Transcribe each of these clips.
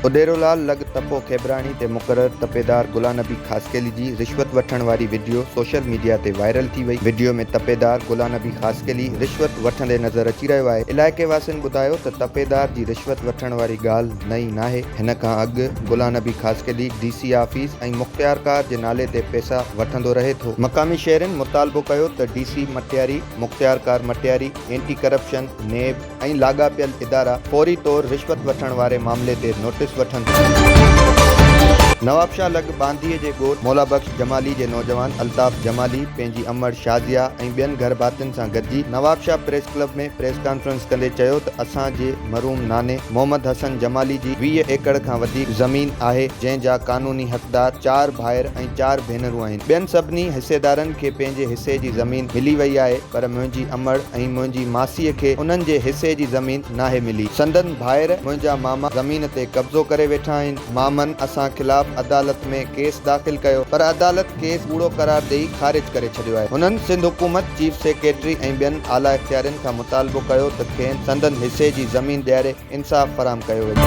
اديرولال لڳ تپو کيبراڻي تي مقرر تپيدار گلانبي خاصخيلي جي رشوت وٺڻ واري وڊيو سوشل ميڊيا تي وائرل ٿي وئي، وڊيو ۾ تپيدار گلانبي خاصخيلي رشوت وٺندي نظر اچي رهيو آهي، علائقي واسين ٻڌايو ته تپيدار جي رشوت وٺڻ واري ڳالهه نئين ناهي، هن کان اڳ Gulanbi Khaskheli D C office ۽ مختيارڪار جي نالي تي پئسا وٺندو رهي ٿو. مقامي شهرين مطالبو ڪيو ته ڊي سي مٽياري. مختيارڪار مٽياري، اينٽي ڪرپشن، نيب ۽ لاڳاپيل ادارا فوري طور رشوت وٺڻ واري معاملي تي نوٽيس وٺن. نوابشاهه لڳ ٻانڌيء جي ڳوٺ مولا بخش جمالي جي نوجوان الطاف جمالي پنهنجي امڙ شازيا ۽ ٻين گهر ڀاتين سان گڏجي Nawabshah press club ۾ press conference ڪندي چيو ته اسان جي مرحوم ناني محمد حسن جمالي جي ويهه ايڪڙ کان وڌيڪ زمين آهي جنهن جا قانوني حقدار چار ڀائر ۽ چار ڀينرون آهن. ٻين سڀني حصيدارن کي پنهنجي حصي جي زمين ملي وئي آهي پر منهنجي امڙ ۽ منهنجي ماسيء کي انهن جي حصي جي زمين ناهي ملي. سندن ڀائر منهنجا ماما زمين تي قبضو ڪري ويٺا آهن. مامن اسان خلاف عدالت ۾ ڪيس داخل ڪيو پر عدالت ڪيس ڪوڙو قرار ڏئي خارج ڪري ڇڏيو آهي. هنن سنڌ حڪومت، چيف سيڪريٽري ۽ ٻين اعليٰ اختيارين کان مطالبو ڪيو ته کين سندن حصي جي زمين ڏياري. انصاف فراهم ڪيو وڃي.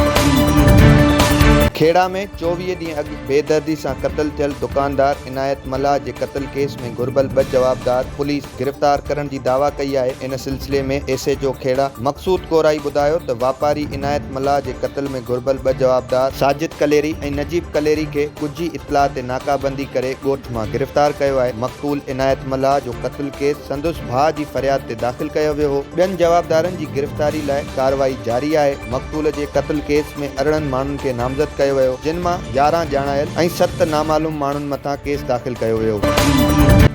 کهڙا ۾ چوويهه ڏينهن اڳ بيدردي سان قتل ٿيل دڪاندار عنايت ملاح جي قتل ڪيس ۾ گهربل ٻه جوابدار پوليس گرفتار ڪرڻ جي دعويٰ ڪئي آهي ان سلسلي ۾ S H O Khuhra Maqsood Korai ٻڌايو ته واپاري عنايت ملاح جي قتل ۾ گهربل ٻه جوابدار ساجد ڪليري ۽ نجيب ڪليري کي ڳجهي اطلاع تي ناڪابندي ڪري ڳوٺ مان گرفتار ڪيو آهي مقتول عنايت ملاح جو قتل ڪيس سندس. ڀاء جي فرياد تي داخل ڪيو ويو هو، ٻين جوابدارن جي گرفتاري لاء ڪارروائي جاري آهي، مقتول جي قتل ڪيس ۾ ارڙهن ماڻهن کي نامزد ڪيو ويو، جن مان يارهن ڄاڻايل ۽ ست نامعلوم ماڻهن مٿان ڪيس داخل ڪيو ويو.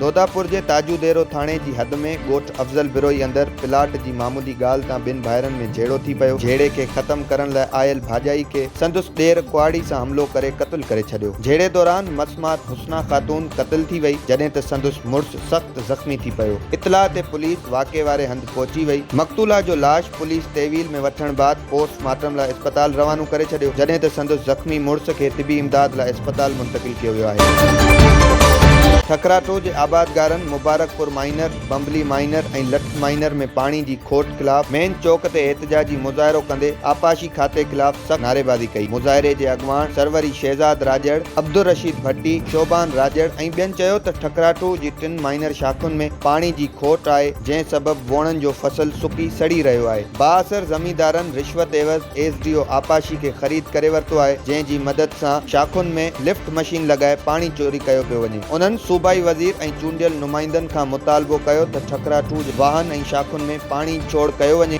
دوداپور جي تاجو ديرو ٿاڻي جي حد ۾ ڳوٺ افضل بروهي اندر پلاٽ جي معمولي ڳالهه تان ٻن ڀائرن ۾ جهيڙو ٿي پيو، جهيڙي کي ختم ڪرڻ لاء آيل ڀاڄائي کي سندس ڏير ڪهاڙي سان حملو ڪري قتل ڪري ڇڏيو، جهيڙي دوران مس مات حسنا خاتون قتل ٿي وئي، جڏهن ته سندس مڙس. سخت زخمي ٿي پيو، اطلاع تي پوليس واقعي واري هنڌ پهچي وئي، مقتولا جو لاش پوليس تحويل ۾ وٺڻ بعد پوسٽ مارٽم لاء اسپتال روانو ڪري ڇڏيو، جڏهن ته سندس زخمي مڙس کي طبي امداد لاء اسپتال منتقل ڪيو ويو آهي. ٺڪراٺو جي آبادگارن مبارڪ پور مائينر، بمبلي مائينر ۽ لٺ مائينر ۾ پاڻي جي کوٽ خلاف مين چوڪ تي احتجاجي مظاهرو ڪندي آبپاشي کاتي خلاف سخت نعريبازي ڪئي، مظاهري جي اڳواڻ سروري شهزاد راڄڙ، عبدالرشيد ڀٽي، شعبان راڄڙ ۽ ٻين چيو ته ٺڪراٺو جي ٽن مائنر شاخن ۾ پاڻي جي کوٽ آهي جنهن سبب ووڻن جو فصل سڪي سڙي رهيو آهي، بااثر زميندارن رشوت عيوض ايس ڊي او آبپاشي کي خريد ڪري ورتو آهي جنهن جي مدد سان شاخن ۾ لفٽ مشين لڳائي پاڻي چوري ڪيو پيو وڃي، انهن صوبائي وزير ۽ چونڊيل نمائندن کان مطالبو ڪيو ته ٺڪراٺو جي واهن ۽ شاخن ۾ پاڻي ڇوڙ ڪيو وڃي.